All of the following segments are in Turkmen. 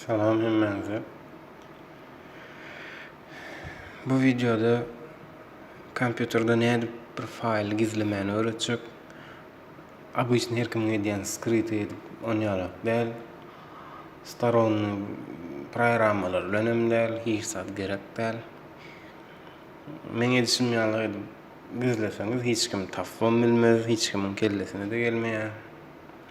Salam hemmäňize. Bu wideoda kompýuterde nädip bir faýly gizlemäni öwretjek. Обычно her kimiň edýän skryty edip on ýalak däl. Staronny programmalar bilen hem däl, hiç zat gerek däl. Meň edişim ýaly edip gizleseňiz hiç kim tapbam bilmez, hiç kimiň kellesine-de gelmeýär.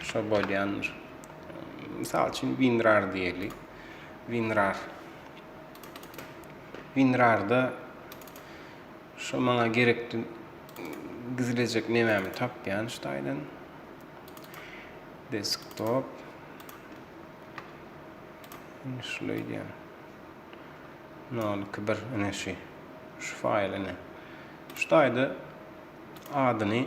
Şo bolýandyr. Mysal üçin WinRAR diýeli. WinRAR. WinRAR-da şo maňa gerekli gizlejek nemämi tapýan şu taýdan. Desktop. Şuly diýen. 021 ine şu. Şu faýl ine. Şu taýda adyny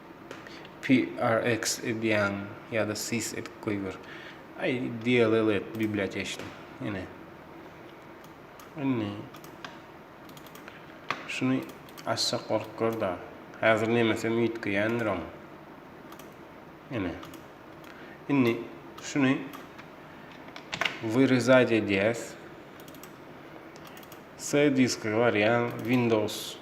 PRX edýäň ýa-da sys edip goýber. Aý, DLL et biblioteçni. Ine. Indi şuny açsak bolup gör-da. Häzir nemesem üýtgeýändir oň. Ine. Indi şuny wyrezat edýäs. C diska barýaň windows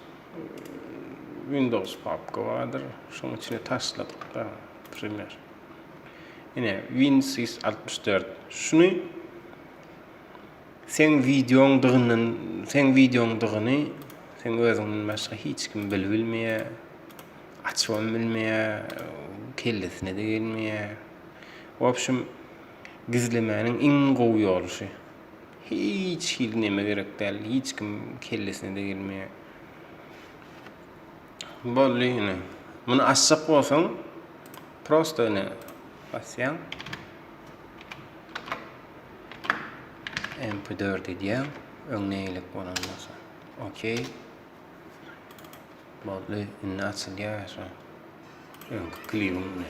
windows papka bardyr şoň içine taşladyk da primer ine winsys altmyş dört şuny seň wideoň dygyndan seň wideoň dygyny seň özüňden başga hiç kim bilip bilmeýä açybam bilmeýä kellesine de gelmeýä wobşem gizlemäniň iň gowy ýoly şu. Hiç hili neme gerek däl, hiç kim kellesine-de gelmeýär. Boldy ine. Muny açjak bolsaň, prosto ine basýaň. MP4 edýäň. Öň neýlik bolan bolsa. Okey. Boldy, indi açylýar şu. Öňki klibiň ine.